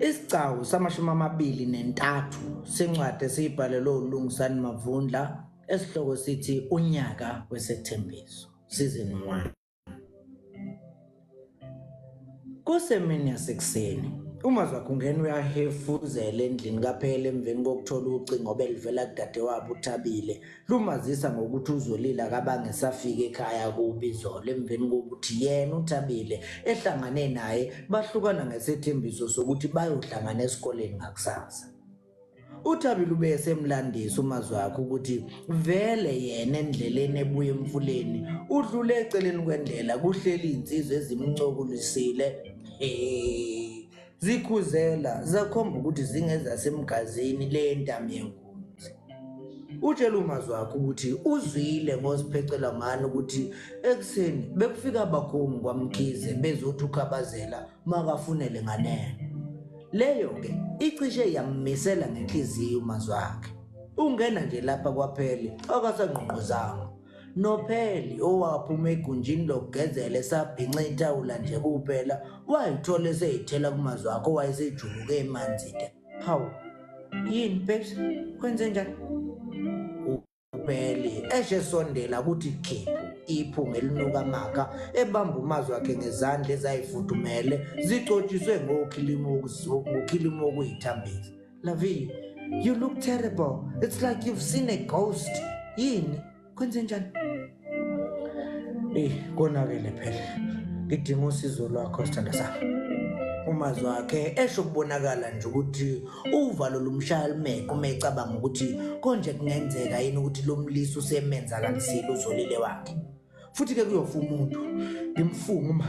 Isigcawu samashumi amabili nentathu sencwadi esiyibhalelwe uLungisani Mavundla esihloko sithi unyaka wesethembiso season 1 Kusemini yasekuseni uma zakhungena uyahefuzela endlini kaphela emveni kokuthola ucingo obelivela kudadewabo uThabile lumazisa ngokuthi uzolile akabange safika ekhaya kubi zolo emveni kokuthi yena uthabile ehlangane naye bahlukana ngesethembiso sokuthi bayohlangana esikoleni ngakusasa uthabile ube esemlandisa umazwi wakhe ukuthi vele yena endleleni ebuye emfuleni udlule eceleni kwendlela kuhleli iy'nsizwa ezimncokulisile hey. Zikhuzela zakhomba ukuthi zingezasemgazini le ntamyenkunzi. Utshela umazi wakhe ukuthi uzwile ngoziphecela ngani ukuthi ekuseni bekufika abakhongi kwaMkhize bezothi ukhabazela makafunele nganeno. Leyo-ke icishe yammisela ngenhliziyo umazi wakhe. Ungena nje lapha kwaphele akasangqongqozanga. Nopheli owaphuma egunjini lokugezela esabhinca ithawula nje kuphela wayithola eseyithela kumazwi akho wayesejuluke emanzide. Hawu, yini babes, kwenze njani? Upheli eshe esondela kuthi khiphu iphunga elinuka amakha ebamba umazwi wakhe ngezandla ezayifudumele zicotshiswe ngokhilimu okuyithambisa. Lavi, you look terrible. It's like you've seen a ghost. Yini? Kwenze njani? Eh, konakele phela. Ngidinga usizo lwakho sithanda sami. umazi wakhe esho kubonakala nje ukuthi uvalo lomshaya lumeke uma ecabanga ukuthi konje kungenzeka yini ukuthi lo mlisa usemenza kanisile uzolile wakhe futhi-ke kuyofa umuntu ngimfunga uma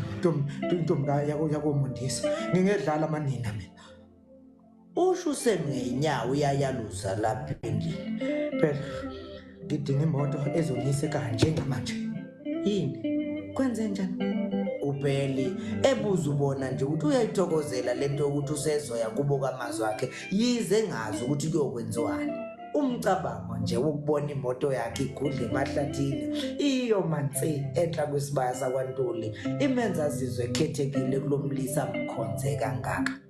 intombi yakomundisa ngingedlala amanina mina Usho usemngenyawo uyayaluza lapha endlini. Phela ngidinga imoto ezongiyise kanje ngamanje. Yini? Kwenze njani? Ubheli ebuza ubona nje ukuthi uyayithokozela lento yokuthi usezoya kubo kamazwi akhe yize ngazi ukuthi kuyokwenziwani. Umcabango nje wokubona imoto yakhe igudle emahlathini iyo mansi enhla kwesibaya sakwantuli imenza azizwe ekhethekile kulomlisa mkhonze kangaka.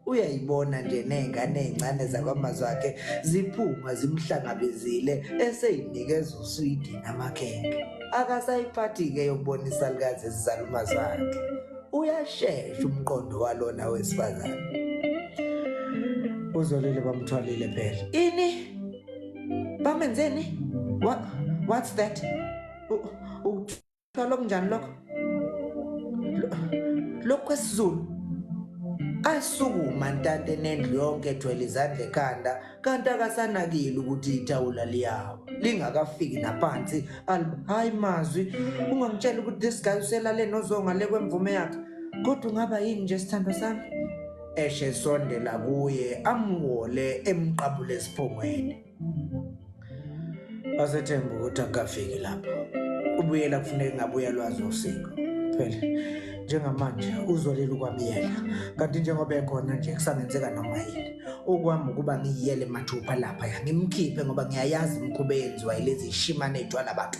uyayibona nje ney'ngane ey'ncane zakwamazwakhe ziphuma zimhlangabezile eseyinikeza uswidi namakhekhe akasayiphathi-ke yokubona isalukazi esizala umazwakhe uyashesha umqondo walona wesifazane uzolile bamthwalile phela ini bamenzeni What, what's that Thola kunjani lokho? Lokho kwesiZulu asukuma ntanta enendlu yonke ethwele izandla ekhanda kanti akasanakile ukuthi ithawula liyawa lingakafiki naphansi hayi mazwi ungangitshela ukuthi this guy uselale nozonga le kwemvume yakhe kodwa ungaba yini nje sithando sami eshe sondela kuye amwole emqabule esiphongweni Asethemba ukuthi akafiki lapho. Ubuyela kufuneka ngabuya lwazi usiko. Phela njengamanje uzolela ukwabiyela kanti njengoba ekhona nje kusangenzeka noma yini okwami ukuba ngiyiyele mathupha lapha ngimkhiphe ngoba ngiyayazi imkhuba eyenziwa yilezi shimane ejwala abantu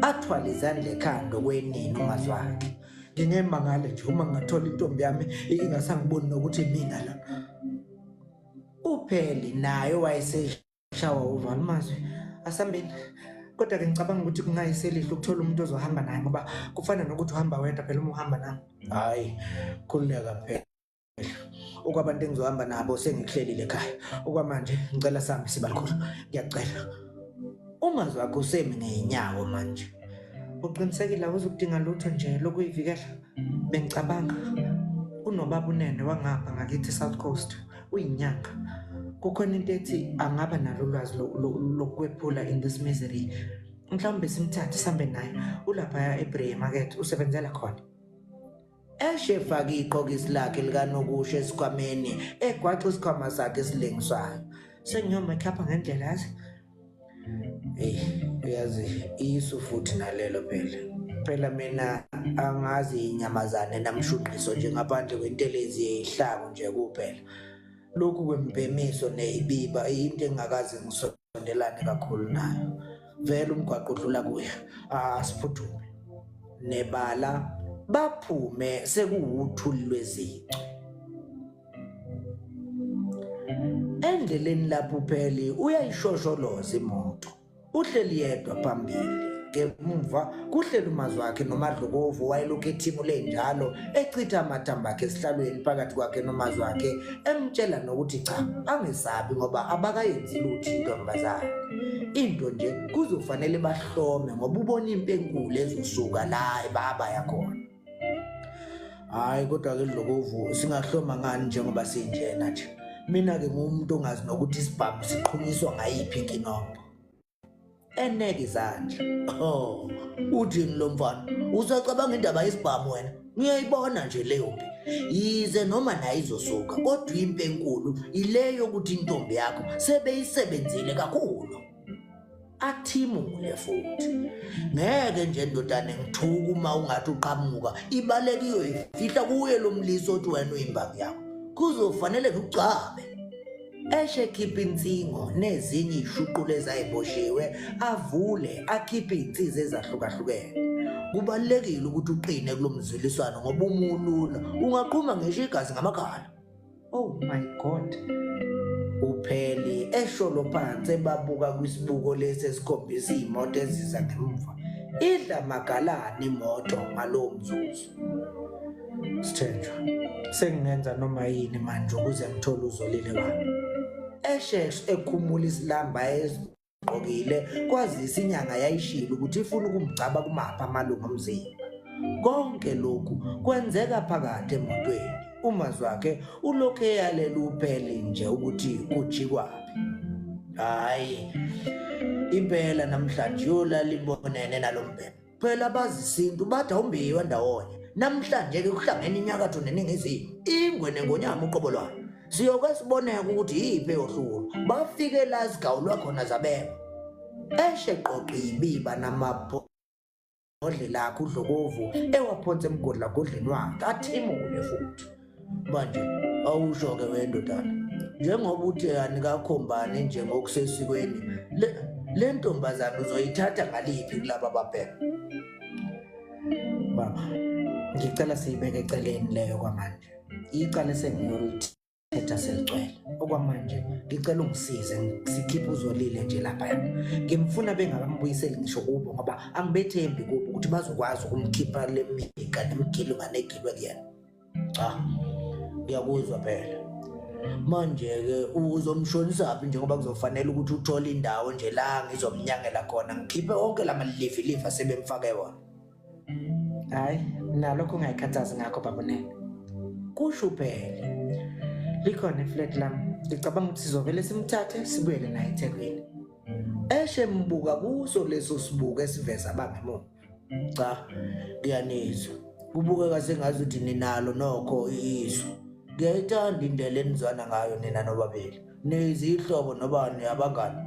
athwale izandla ekhanda okwenini ungazwakhe ngingemangale nje uma ngathola intombi yami ingasangiboni nokuthi mina la upheli naye wayeseshawa uvala amazwi asambeni kodwa ke ngicabanga ukuthi kungayiselihle ukuthola umuntu ozohamba naye ngoba kufana nokuthi uhamba wedwa phela uma uhamba nami hhayi khululeka phela okwabantu engizohamba nabo sengikuhlelile ekhaya okwamanje ngicela sami sibalikhulu ngiyakucela ungazi wakho usemi ngeyinyawo manje uqinisekile awuzukudinga lutho nje lokuyivikela Bengicabanga kunobaba unene wangapha ngakithi South Coast uyinyanga. Kukhona into ethi angaba nalo ulwazi lokwephula in this misery. Mhlawumbe simthathe sambe naye ulapha eBree Market usebenzela khona. Eshe faka iqhokisi lakhe likanokusho esikhwameni egwaxa isikhwama sakhe esilengiswayo. Sengiyoma ekhapha ngendlela yazi Hey, uyazi isu futhi nalelo phela. Phela mina angazi inyamazane namshunqiso nje ngaphandle kwentelezi yehlaku nje kuphela. Lokhu kwembhemiso neyibiba into engakaze ngisondelane kakhulu nayo. Vele umgwaqo udlula kuya. Asiphuthume. Nebala baphume sekuwuthuli lwezicu. endleleni lapho upheli uyayishosholoza imoto uhleli yedwa phambili ngemumva kuhleli umazi wakhe nomadlokovu wayelokhu ethimu lenjalo echitha amathambo akhe esihlalweni phakathi kwakhe nomazi wakhe emtshela nokuthi cha angesabi ngoba abakayenzi lutho intombazane into nje kuzofanele bahlome ngoba ubona impi enkulu ezosuka la ebaba yakhona hayi kodwa-ke dlokovu singahloma ngani njengoba sinjena nje mina-ke nguwumuntu ongazi nokuthi isibhamu siqhunyiswa ngayiphi inkinongo eneke izandla oh uthini lo mfana usacabanga indaba yesibhamu wena ngiyayibona nje leyo mpi yize noma naye izosuka kodwa impi enkulu ile yokuthi intombi yakho sebeyisebenzile kakhulu athimule futhi ngeke nje ndodane ngithuka uma ungathi uqhamuka ibaleka iyoyifihla kuye lo mlisi othi wena uyimbangi yakho kuzofanele ngigcabe eshe khipha insingo nezinye ishuqula ezayiboshiwe avule akhiphe izinsizwa ezahlukahlukene kubalekile ukuthi uqine kulomzwiliswano ngoba umulula ungaqhuma ngisho igazi ngamakhala Oh my God. Upheli esholo phansi ebabuka kwisibuko lesi esikhombisa imoto eziza ngemuva. Idla magalani imoto ngalowo mzuzu. Sithenjwa. Sengingenza noma yini manje ukuze ngithole uzolile wami. Esheshe ekhumula isilamba gqokile kwazisa inyanga yayishilo ukuthi ifuna ukumgcaba kumapha amalungu omzimba konke lokhu kwenzeka phakathi emotweni umazwakhe ulokhu eyalela upheli nje ukuthi kujikwaphi hayi impela namhlanje yolala ibonene nalombhebhe Phela abazisintu bathi awumbiwa ndawonye. Namhlanje-ke kuhlangene inyakatho neningizimu, ingwe nengonyama uqobo lwayo. Siyoke siboneka ukuthi yiphi eyohlulwa. Bafike la zigawulwa khona zabekwa. Eshe qoqi yibiba namapho odle lakho udlokovu ewaphonsa emgodlagodleni wakhe athimule futhi manje awusho-ke wendodana njengoba uthe anikakhombani nje ngokusesikweni le ntombazane uzoyithatha ngaliphi kulaba babheka baba ngicela siyibeke eceleni leyo kwamanje icala esengiyolithetha seligcwele okwamanje ngicela ungisize sikhiphe uzolile nje lapha ngimfuna bengakambuyiseli ngisho kubo ngoba angibethembi kubo ukuthi bazokwazi ukumkhipha le mika nemigilunganegilwe kuyena cha uyakuzwa phela manje-ke uzomshonisaphi njengoba kuzofanele ukuthi uthole indawo nje la ngizomnyangela khona ngikhiphe wonke la malilivilivhi asebemfake wona hhayi nalokho ungayikhathazi ngakho babonene kusho uphele likhona iflat lam ngicabanga ukuthi sizovele simthathe sibuyele naye ethekwini eshe mbuka kuso leso sibuko esiveza abangemuva cha ngiyanizwa kubukeka sengazi ukuthi ninalo nokho izwi ngiyayithanda indlela enizwana ngayo nina nobabili nizihlobo nobani abangani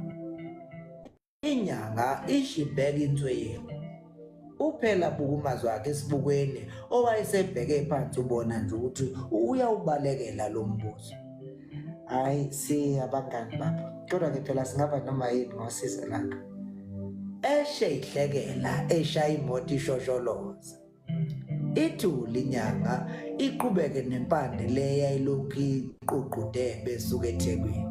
inyanga ishibheka insweyiwe uphela bukumazi wakhe esibukweni owayesebheke phansi ubona nje ukuthi uyawubalekela lo mbuzo hayi si abangani bapha kodwa ke phela singaba noma yini ngosizo lakho eshe ihlekela eshaya imoto ishosholoza ithuli inyanga iqhubeke nempande le yayilokhu iququde besuka ethekwini